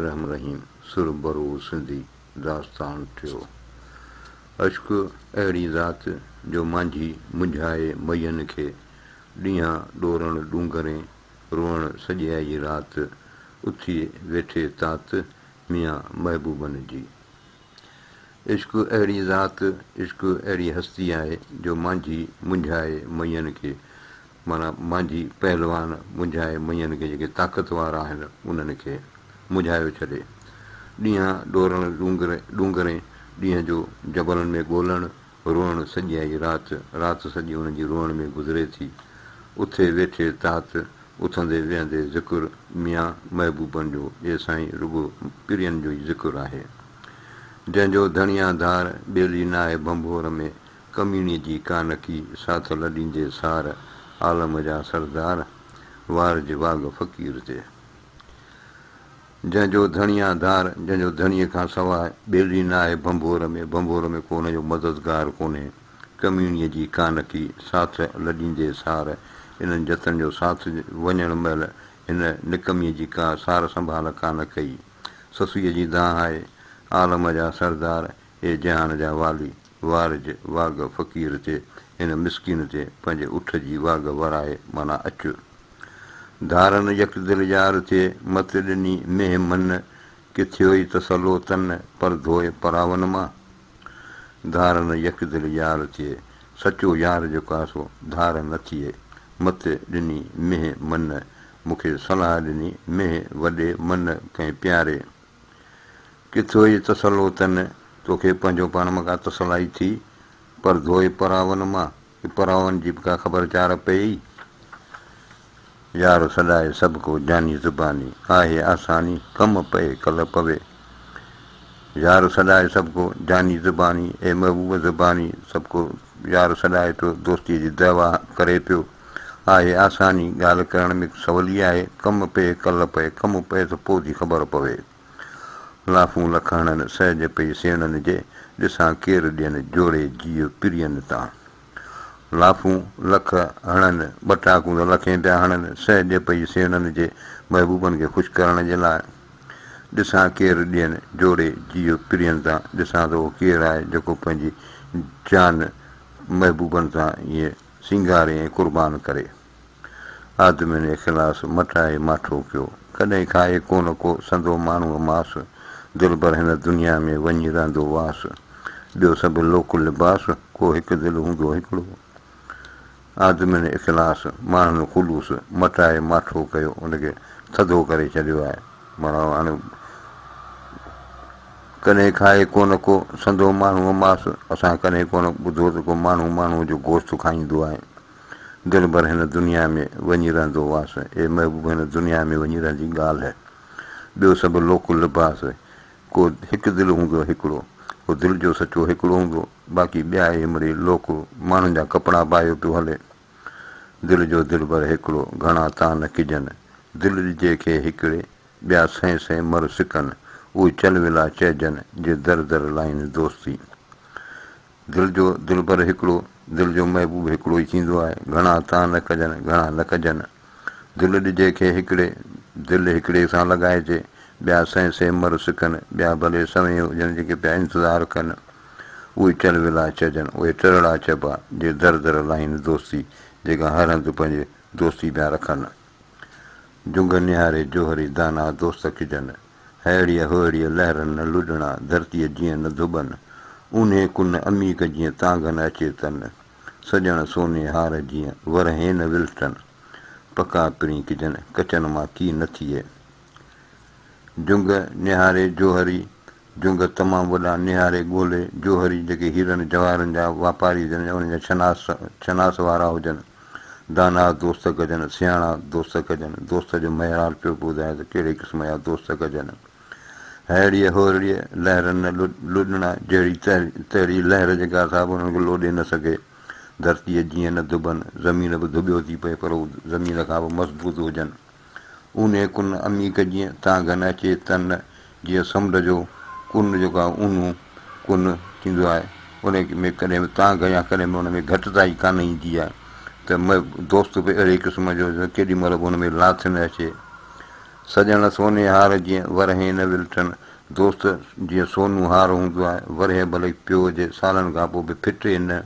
الرحمن الرحيم سر برو سنڌي داستان ٿيو عشق اهڙي ذات جو مانجهي منجهائي مئين کي ڏينهان ڏورڻ ڏونگرين روئڻ سڄيائي رات اٿي ويٺي تات ميان محبوبن جي عشق اهڙي ذات عشق اهڙي هستي آهي جو مانجهي منجهائي مئين کي معنيٰ مانجهي پهلوان منجهائي مڃن کي جيڪي طاقتوار آهن انهن کي منجهايو ڇڏي ڏينهان ڏورڻ ڏونگر ڏونگرين ڏينهن جو جبلن ۾ ڳولڻ روئڻ سڄيائي رات رات سڄي انهن جي روئڻ ۾ گذري ٿي اٿي ويٺي تات اٿندي ويهندي ذڪر ميان محبوبن جو اي سائين رڳو پرين جو ئي ذڪر آهي جنهن جو ڌڻيان ڌار ٻيلي ناهي ڀنڀور ۾ ڪميڻي جي ڪانڪي ساٿ لڏيندي سار عالم جا سردار وار جي واڳ فقير تي جنهن جو ڌڻيا ڌار جنهن جو ڌڻيء کان سواء ٻيلي ناهي ڀنڀور ۾ ڀنڀور ۾ ڪو هن جو مددگار ڪونهي ڪميڻي جي ڪانڪي ساٿ لڏيندي سار انهن جتن جو ساٿ وڃڻ مهل هن نڪمي جي ڪا سار سنڀال ڪانه ڪئي سسئيء جي دانهن آئي عالم جا سردار اي جهان جا والي! وارج، واڳ، فقير تي، هن مسڪين تي، پنهنجي اٺ جي واڳ ورائي، معنيٰ اچ. ڌارن يڪ دل يار ٿئي، مت ڏني مينهن من، ڪي ٿيوئي تسلو تن، پر ڌوئي پراون مان. ڌارن يڪ دل يار ٿئي، سچو يار جيڪو آهي سو، ڌار نه ٿئي، مت ڏني مينهن من، مون کي صلاح ڏني مينهن وڏي من ڪنهن پياري. ڪٿو ئي تسلو تن، توکي پنهنجو پاڻ مان ڪا تسلائي ٿي، پر ڌوئي پراون مان، ڪي پراون جي به ڪا خبر چار پيئي. يار سڏائي سڀڪو جاني زباني، آهي آساني، ڪم پئي ڪل پوي. يار سڏائي سڀڪو جاني زباني، اي محبوب زباني، سڀڪو يار سڏائي پيو، دوستيء جي دعويٰ ڪري پيو. آهي آساني ڳالهه ڪرڻ ۾ ته سولي آهي ڪم پئي ڪل پئي ڪم پئي ته پوء ٿي خبر پوي لافون لک هڻن سهج پئي سيڻن جي ڏسان ڪير ڏين جوڙي جيء پرين تان لافون لک هڻن ٻه ٽاڪون ته لکين پيا هڻن سهج پئي سيڻن جي محبوبن کي خوش ڪرڻ جي لاء ڏسان ڪير ڏين جوڙي جيء پرين تان ڏسان ته اهو ڪير آهي جيڪو پنهنجي جان محبوبن سان ائين سينگاري ۽ قربان ڪري. آدمين اخلاص مٽائي ماٺو ڪيو. ڪڏهن کائي ڪونه ڪو سندو ماڻهوء ماس. دلبر هن دنيا ۾ وڃي رهندو واس. ٻيو سڀ لوڪ لباس، ڪو هڪ دل هوندو هڪڙو. آدمين اخلاص، ماڻهن خلوص، مٽائي ماٺو ڪيو، ان کي ٿڌو ڪري ڇڏيو آهي. ڪڏهن کائي ڪونه ڪو سندو ماڻهوء ماس، اسان ڪڏهن ڪونه ٻڌو ته ڪو ماڻهو ماڻهوء جو گوشت کائيندو آهي. دل ڀر هن دنيا ۾ وڃي رهندو هئاس. اي محبوب هن دنيا ۾ وڃي رهندي ڳالهه. ٻيو سڀ لوڪ لباس. ڪو هڪ دل هوندو هڪڙو. هو دل جو سچو هڪڙو هوندو. باقي ٻيا اهي مڙئي لوڪ ماڻهن جا ڪپڙا پايو پيو هلي. دل جو دلبر هيڪڙو، گهڻا تان نه ڪجن. دل ڏجي کي هيڪڙي، ٻيا سئين سئين مر سڪن. اهي چل ولا چئجن، جي در در لائين دوستي. دل جو دلبر هيڪڙو، دل جو محبوب هيڪڙو ئي ٿيندو آهي. گهڻا تان نه ڪجن، گهڻا نه ڪجن. دل ڏجي کي هڪڙي، دل هڪڙي سان لڳائجي، ٻيا سئين سئين مر سڪن، ٻيا ڀلي سوين هجن جيڪي پيا انتظار ڪن، اهي چل ولا چئجن، اهي ٽرڙا چئبا، جي در در لاهين دوستي، جيڪا هر هنڌ پنهنجي دوستي پيا رکن. جهنگ نهاري جوهري دانا دوست ڪجن، هئڙيء هئڙيء لهرن نه لڏڻا، ڌرتيء جيئن نه ڌٻن، اونهي ڪن عميق جيئن تانگهه نه اچي تن. سڄڻ سوني هار جيئن ورهين نه ولٽن، پکا پرين ڪجن ڪچن مان ڪي نه ٿئي. جهنگ نهاري جوهري، جهنگ تمام وڏا نهاري ڳولي جوهري جيڪي هيرن جواهرن جا واپاري هجن يا انهن جا شناس شناس وارا هجن، دانا دوست ڪجن، سياڻا دوست ڪجن، دوست جو معيار پيو ٻڌائي ته ڪهڙي قسم جا دوست ڪجن. ههڙيء ههڙيء لهرن نه لڏڻا، جهڙي تهڙي لهر جيڪا اصحاب انهن کي لوڏي نه سگهي. ڌرتيء جيئن نه ڌٻن، زمين به ڌٻيو ٿي پئي، پر هو زمين کان به مضبوط هجن. اونهي ڪن عميق جيئن تانگهه نه اچي، تن نه جيئن سمنڊ جو ڪن جيڪو آهي اونهو ڪن ٿيندو آهي، ان ۾ ڪڏهن به تانگهه يا ڪڏهن به ان ۾ گهٽتائي ڪانه ايندي آهي، ته دوست به اهڙي قسم جو جو ڪيڏي مهل به ان ۾ لاٿ نه اچي. سڄڻ سوني هار جيئن ورهين نه ولٽن، دوست جيئن سونو هار هوندو آهي، ورهيه ڀلي پيو هجي، سالن کان پوء به ڦٽي نه.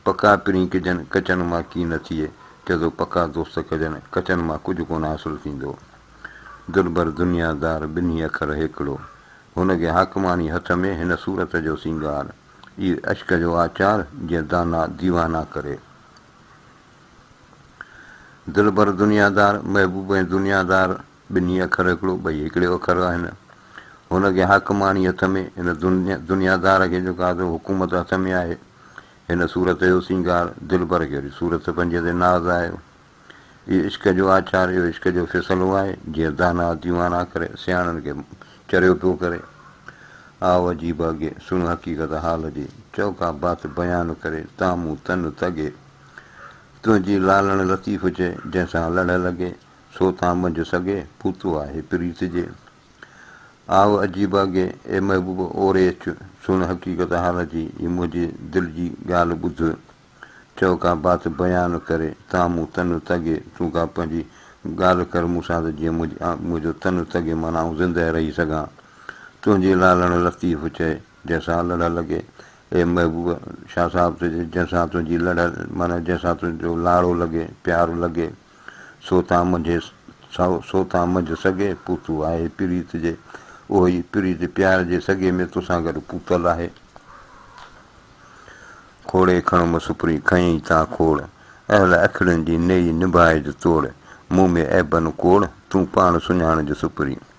پڪا پرين ڪجن، ڪچن مان ڪي نه ٿئي، چئجو پڪا دوست ڪجن، ڪچن مان ڪجهه ڪونه حاصل ٿيندو. دلبر دنيا دار ٻنهي اکر هيڪڙو. هن کي حاڪماڻي هٿ ۾ هن صورت جو سينگار. اي عشق جو آچار جيئن دانا ديوانا ڪري. دلبر دنيادار، محبوب ۽ دنيادار ٻنهي اکر هڪڙو، ٻئي هڪڙي اکر آهن. هن کي حاڪم آڻي هٿ ۾، هن دنيادار کي جو قاضو حڪومت هٿ ۾ آهي. هن صورت جو سينگار، دلبر کي وري صورت پنهنجي تي ناز آهي. اهو عشق جو آچار، اهو عشق جو فيصلو آهي، جيئن داناء ديوانا ڪري، سياڻن کي چريو پيو ڪري. آء عجيب اگهي، سڻ حقيقت حال جي، چئو ڪا بات بيان ڪري، تان مون تن تڳي. تنهنجي لالڻ لطيف هجي، جنهن سان لڙهه لڳي، سو تان منجهه سگهي، پوتو آهي پريت جي. آء عجيب اگهي، اي محبوب اوري اچ، سڻ حقيقت حال جي، هي منهنجي دل جي ڳالهه ٻڌ. چئو ڪا بات بيان ڪري، تان مون تن تڳي، تون ڪا پنهنجي ڳالهه ڪر مون سان ته جيئن منهنجو تن تڳي معنيٰ آئون زندهه رهي سگهان. تنهنجي لالڻ لطيف چئي. جنهن سان لڙهه لڳي، اي محبوب شاهه صاحب تنهنجي جنهن سان تنهنجي لڙهه معنيٰ جنهن سان تنهنجو لاڙو لڳي، پيار لڳي، سو تان منجهي سائو، سو تان منجهه سڳي پوتو آهي پريت جي، اهو ئي پريت پيار جي سڳي ۾ توسان گڏ پوتل آهي. کوڙي کڻ مون سپري کنئين تان کوڙ، اهل اکڙين جي نيئي نڀائج توڙ، مون ۾ عيبن ڪوڙ، تون پاڻ سڃاڻج سپري.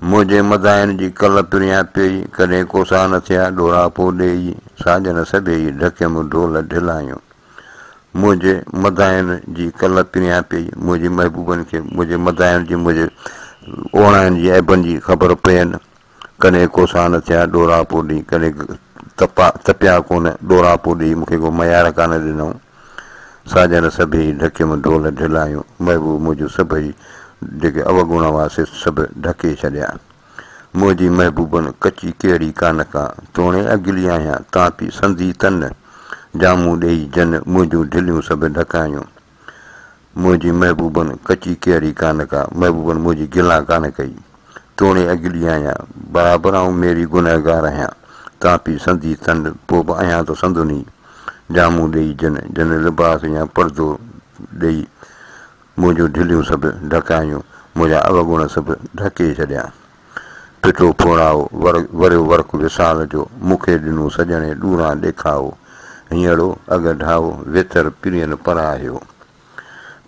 منهنجي مداحن جي ڪل پريان پيئي، ڪڏهن ڪوسا نه ٿيا ڏوراپو ڏيئي، ساڄن سڀيئي ڍڪيم ڍول ڍلايون. منهنجي مداحن جي ڪل پريان پيئي، منهنجي محبوبن کي منهنجي مداحن جي منهنجي اوڻاين جي عيبن جي خبر پين، ڪڏهن ڪوسا نه ٿيا ڏوراپو ڏيئي، ڪڏهن تپيا ڪونه ڏوراپو ڏيئي، مون کي ڪو ميار ڪانه ڏنائون. ساڄڻ سڀيئي ڍڪيم ڍول ڍلايون، محبوب منهنجو سڀئي جيڪي اوڳوڻا هئا سي سڀ ڍڪي ڇڏيا. منهنجي محبوبن ڪچي ڪهڙي ڪانه ڪا، توڻي اگلي آهيان تان پي سندي تن، جامون ڏيئي جن منهنجون ڍليون سڀ ڍڪايون. منهنجي محبوبن ڪچي ڪيئڙي ڪانه ڪا، محبوبن منهنجي گلان ڪانه ڪئي. توڻي اڳلي آهيان، برابر آئون ميري گنهگار آهيان. تان پي سندي تنڊ، پوء به آهيان ته سندونهي. جامون ڏيئي جن، جن لباس يا پردو ڏيئي، منهنجون ڍليون سڀ ڍڪايون، منهنجا اوڳڻ سڀ ڍڪي ڇڏيا. ڦٽو ڦوڙائو، ور وريو ورق وصال جو، مون کي ڏنو سڄڻي ڏوران ڏيکائو، هينئڙو اڳ ڍائو، ويتر پرين پراهيو.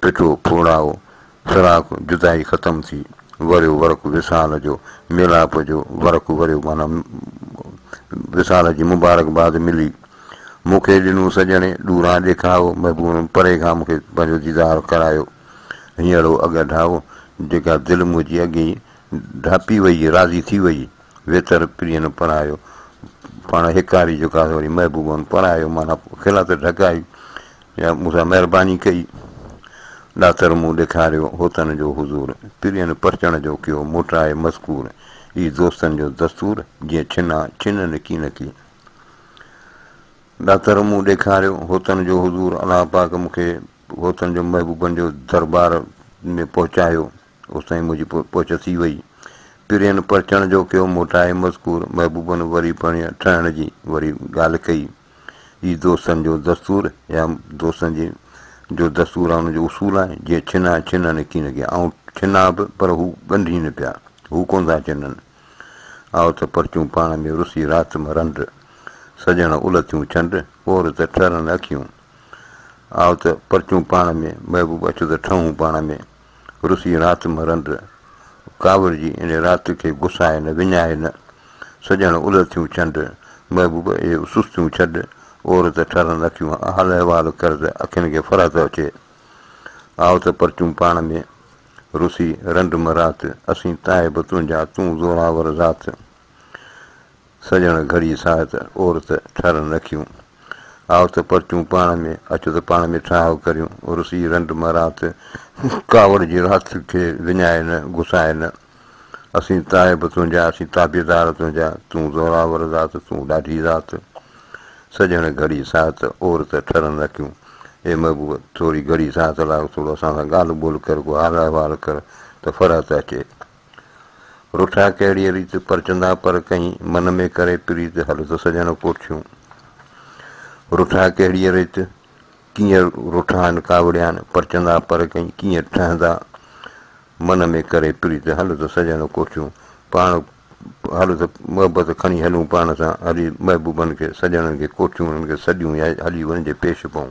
ڦٽو ڦوڙائو، فراق جدائي ختم ٿي، وريو ورق وصال جو، ميلاپ جو ورق وريو معنيٰ وصال جي مبارڪباد ملي، مون کي ڏنو سڄڻي ڏوران ڏيکائو، محبوب پري کان مون کي پنهنجو ديدار ڪرايو، هينئڙو اڳ ڍائو، جيڪا دل منهنجي اڳيئي ڍاپي ويئي راضي ٿي ويئي، ويتر پرينء نو پرهايو، پاڻ هيڪاري جيڪو آهي سو وري محبوبه نو پرهايو، معنيٰ کلئا ته ڍڪائي، يا مون سان مهرباني ڪئي، ڏاتر مون ڏيکاريو، هوتن جو حضور، پرين پرچڻ جو ڪيو، موٽرائي مذڪور، اي دوستن جو دستور، جيئن ڇنا ڇن نڪي نڪي. ڏاتر مون ڏيکاريو، هوتن جو حضور، الله پاڪ مون کي هوتن جو محبوبن جو دربار ۾ پهچايو. اوستائين منهنجي پهچ ٿي وئي. پرين پرچڻ جو ڪيو موٽائي مذڪور محبوبن وري پرڻيء ٺهڻ جي وري ڳالهه ڪئي. هي دوستن جو دستور يا دوستن جي جو دستور آهي ان جو اصول آهي جيئن ڇنا ڇنن هڪي نه ڪيا آئون ڇنا به پر هو ڳنڍين پيا هو ڪونه ٿا ڇنن آئو ته پرچون پاڻ ۾ رسي رات م رنڊ سڄڻ الٿيون ڇنڊ پور ته ٺرن اکيون آئو ته پرچون پاڻ ۾ محبوب اچ ته ٺهون پاڻ ۾ روسي رات مرند ڪاوڙ جي ان رات کي گسائي نه وڃائي نه، سڄڻ الهٿيون چنڊ، محبوب اهي سستيون ڇڏ، عورت ٺرن اکيون حال احوال ڪر ته اکين کي فرحت اچي. آء ته پرچون پاڻ ۾، روسي رنڊ مرات، اسين تائب تنهنجا، تون زوراور ذات. سڄڻ گهڙي ساهت عورت ٺرن رکيون. آء ته پرچون پاڻ ۾، اچ ته پاڻ ۾ ٺاهه ڪريون. رسي رنڊ مان رات، ڪاوڙ جي رات کي وڃائي نه، گسائي نه. اسين تائب تنهنجا، اسين تابعدار تنهنجا، تون زوراور ذات، تون ڏاڍي ذات. سڄڻ گهڙي ساهت عورت ٺرن رکيون. اي محبوب! ٿوري گهڙي ساهت لاء اٿ، ٿورو اسان سان ڳالهه ٻولهه ڪر، ڪو حال احوال ڪر ته فرحت اچي. رٺا ڪهڙيء ريت پرچندا پر ڪئين، من ۾ ڪري پريت هل ته سڄڻ ڪوٺيون. رٺا ڪهڙيء ريت، ڪيئن رٺان ڪاوڙيان، پرچندا پر ڪئين، ڪيئن ٺهندا، من ۾ ڪري پريت هل ته سڄڻ ڪوٺيون. پاڻ هل ته محبت کڻي هلون پاڻ سان، هلي محبوبن کي، سڄڻن کي ڪوٺيون، انهن کي سڏيون يا هلي انهن جي پيش پئون.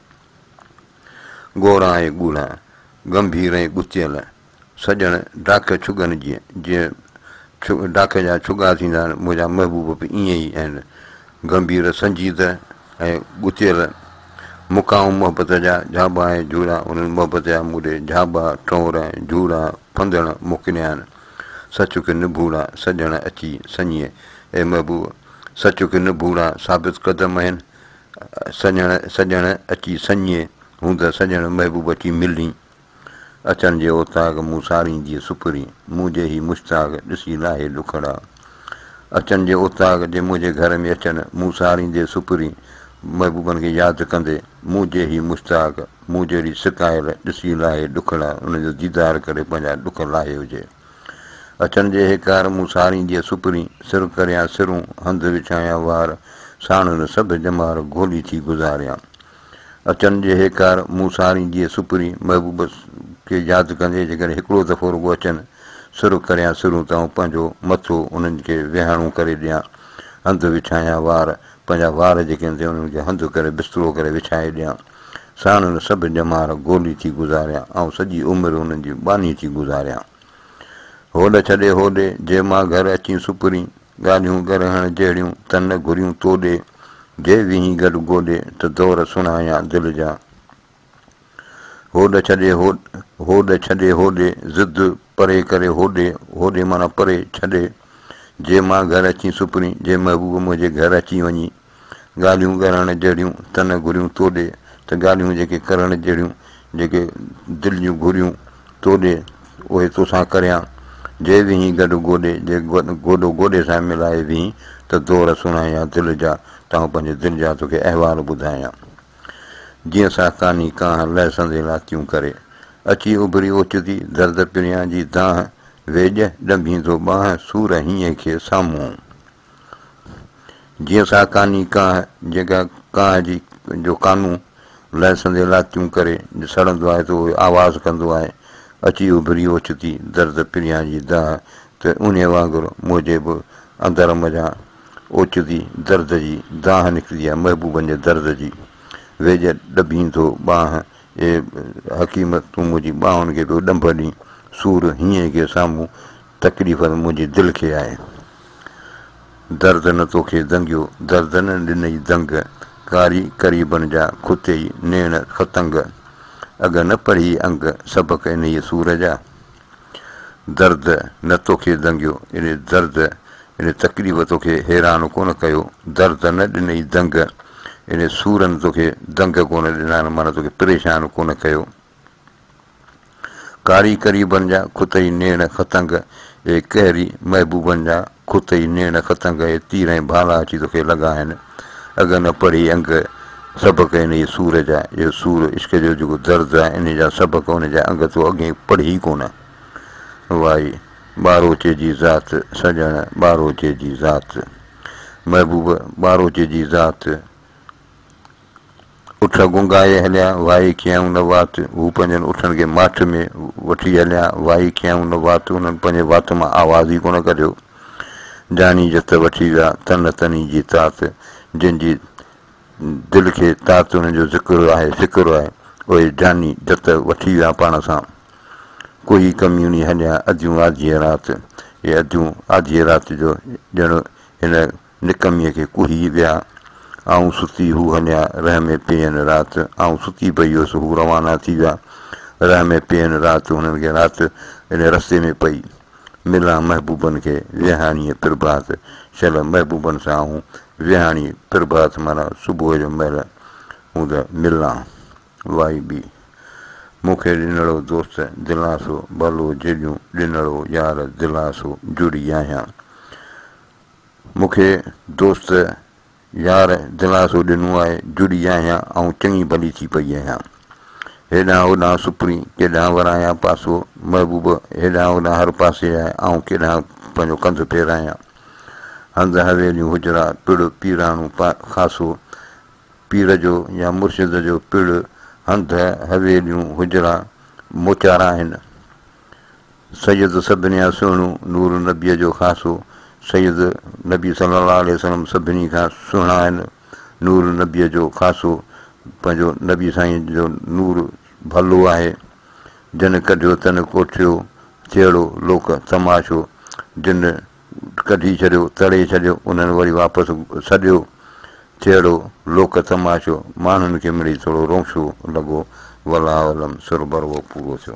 گورا ۽ ڳوڙها، ڳنڀير ۽ ڳتيل، سڄڻ ڊاکي ڇڳن جيئن، جيئن ڊاکي جا ڇڳا ٿيندا آهن، منهنجا محبوب به ائين ئي آهن، ڳنڀير، سنجيده ۽ ڳتيل، مقام محبت جا جهاٻا ۽ جهوڙا، انهن محبت جا مون ڏي جهاٻا، ٽئور ۽ جهوڙا، ڦندڻ موڪليا آهن، سچ ڪي نڀوڙا، سڄڻ اچي سڃي، اي محبوب! سچ ڪي نڀوڙا، ثابت قدم آهن، سڄڻ سڄڻ اچي سڃي، هون ته سڄڻ محبوب اچي ملين. اچڻ جي اوطاق مون سارين جي سپرين، منهنجي هي مشتاق ڏسي لاهي ڏکڙا. اچڻ جي اوطاق جي منهنجي گهر ۾ اچڻ مون ساريندي سپرين، محبوبن کي ياد ڪندي، منهنجي هي مشتاق مون جهڙي سڪايل ڏسي لاهي ڏکڙا، انهن جو ديدار ڪري پنهنجا ڏک لاهي هجي. اچڻ جي هيڪار مون سارين جي سپرين، سر ڪريان سرون، هنڌ وڇايان وار، ساڻن سڀ ڄمار، گهولي ٿي گذاريان. اچڻ جي هيڪار مون سارين جي سپرين، محبوب کي ياد ڪندي جيڪڏهن هڪڙو دفعو رڳو اچن، سر ڪريان سرون ته آئون پنهنجو مٿو انهن کي ويهاڻو ڪري ڏيان، هنڌ وڇايان وار، پنهنجا وار جيڪي هوندي انهن کي هنڌ ڪري بسترو ڪري وڇائي ڏيان. ساڻ هن سڀ ڄمار گولي ٿي گذاريان، آئون سڄي عمر هنن جي ٻانهي ٿي گذاريان. هوڏ ڇڏي هوڏي، جي مان گهر اچين سپرين، ڳالهيون ڳرهڻ جهڙيون، ته نه گهريون توڏي، جي ويهين گڏ گوڏي، ته دور سڻايان دل جا. هوڏ ڇڏي هوڏ ڇڏي هوڏي، ضد پري ڪري هوڏي، هوڏي معنيٰ پري ڇڏي، جي مان گهر اچين سپرين، جي محبوب منهنجي گهر اچي وڃي، ڳالهيون ڳرائڻ جهڙيون ته نه گهريون تو ڏي ته ڳالهيون جيڪي ڪرڻ جهڙيون جيڪي دل جون گهريون تو ڏي اهي توسان ڪريان جي ويهين گڏ گوڏي جي گوڏو گوڏي سان ملائي ويهين ته دور سڻايان دل جا تانهون پنهنجي دل جا توکي احوال ٻڌايان جيئن ساهڪاني ڪانه لهسندي لاتيون ڪري اچي اڀري اوچتي درد پريان جي دانهن ويڄ ڏنڀيندو ٻانهن سور هينئين کي سامهون جيئن سا ڪاني ڪانه، جيڪا ڪانه جي جو ڪانو لهسندي لاتيون ڪري سڙندو آهي ته اهو آواز ڪندو آهي، اچي اڀري اوچتي درد پريان جي دانهن ته انهيء وانگر منهنجي به اندر منجهان اوچتي درد جي دانهن نڪتي آهي، محبوبن جي درد جي ويڄ ڏڀين ٿو ٻانهن، اي حڪيم تون منهنجي ٻانهن کي پيو ڏنڀ ڏين، سور هينئين کي سامهون تڪليف نه منهنجي دل کي آهي درد نه توکي دنگيو درد نه ڏنئي دنگ ڪاري قريبن جا کتئي نيڻ فتنگ اڳ نه پڙهي انگ سبق انهيء سور جا درد نه توکي دنگيو يعني درد يعني تڪليف توکي حيران ڪونه ڪيو درد نه ڏنئي دنگ يعني سورن توکي دنگ ڪونه ڏنا معنيٰ توکي پريشان ڪونه ڪيو ڪاري قريبن جا خط ئي نيڻ ختنگ اي قهري محبوبن جا خط ئي نيڻ ختنگ اي تير ۽ ڀالا اچي توکي لڳا آهن اڳ نه پڙهي انگ سبق انهيء سور جا اهو سور عشق جو جيڪو درد آهي انهيء جا سبق انهيء جا انگ تو اڳهين پڙهي ڪونه وائي ٻاروچي جي ذات سڄڻ ٻاروچي جي ذات محبوب ٻاروچي جي ذات اٺ گونگائي هليا، وائي ڪيائون نه وات، هو پنهنجن اٺن کي ماٺ ۾ وٺي هليا، وائي ڪيائون نه وات، هنن پنهنجي وات مان آواز ئي ڪونه ڪڍيو، جاني جت وٺي ويا، تنه تني جي تات، جن جي دل کي تات انهن جو ذڪر آهي، فڪر آهي، اهي جاني جت وٺي ويا پاڻ سان، ڪوهي ڪميوني هليا، اڌيون آڌيء رات، اهي اڌيون آڌيء رات جو ڄڻ هن نڪميء کي ڪوهي ويا. آئون ستي هو هنيا رح ۾ پيئن رات. آئون ستي پئي هيس هو روانا ٿي ويا. رح ۾ پيئن رات هنن کي رات انهي رستي ۾ پئي. ملان محبوبن کي ويهاڻيء پرڀات شل محبوبن سان آئون ويهاڻي پرڀات معنيٰ صبح جو مهل هون ته ملان. وائي بي. مون کي ڏنڙو دوست دلاسو ڀلو جيڏيون ڏنڙو يار دلاسو جڙي آهيان. مون کي دوست يار دلاسو ڏنو آهي، جڙي آهيان ۽ چڱي ڀلي ٿي پئي آهيان. هيڏانهن هوڏانهن سپري، ڪيڏانهن ورايان پاسو، محبوب هيڏانهن هوڏانهن هر پاسي آهي، آئون ڪيڏانهن پنهنجو ڪنڌ ڦيرايان. هنڌ حويليون حجرا، پڙ، پيراڻو خاصو، پير جو يا مرشد جو پڙ، هنڌ، حويليون، حجرا، موچارا آهن. سيد سڀني کان سهڻو، نور نبيء جو خاصو، سيد نبي صلّي اللّٰه عليه وسلّم سڀني کان سهڻا آهن، نور نبيء جو خاصو، پنهنجو نبي سائين جو نور ڀلو آهي، جنھن ڪڍيو تنھن ڪوٺيو، جهڙو لوڪ تماشو، جن ڪڍي ڇڏيو، تڙي ڇڏيو، انهن وري واپس سڏيو، جهڙو لوڪ تماشو، ماڻهن کي مڙئي ٿورو رونشو لڳو، والله اعلم، سر بروو پورو ٿيو.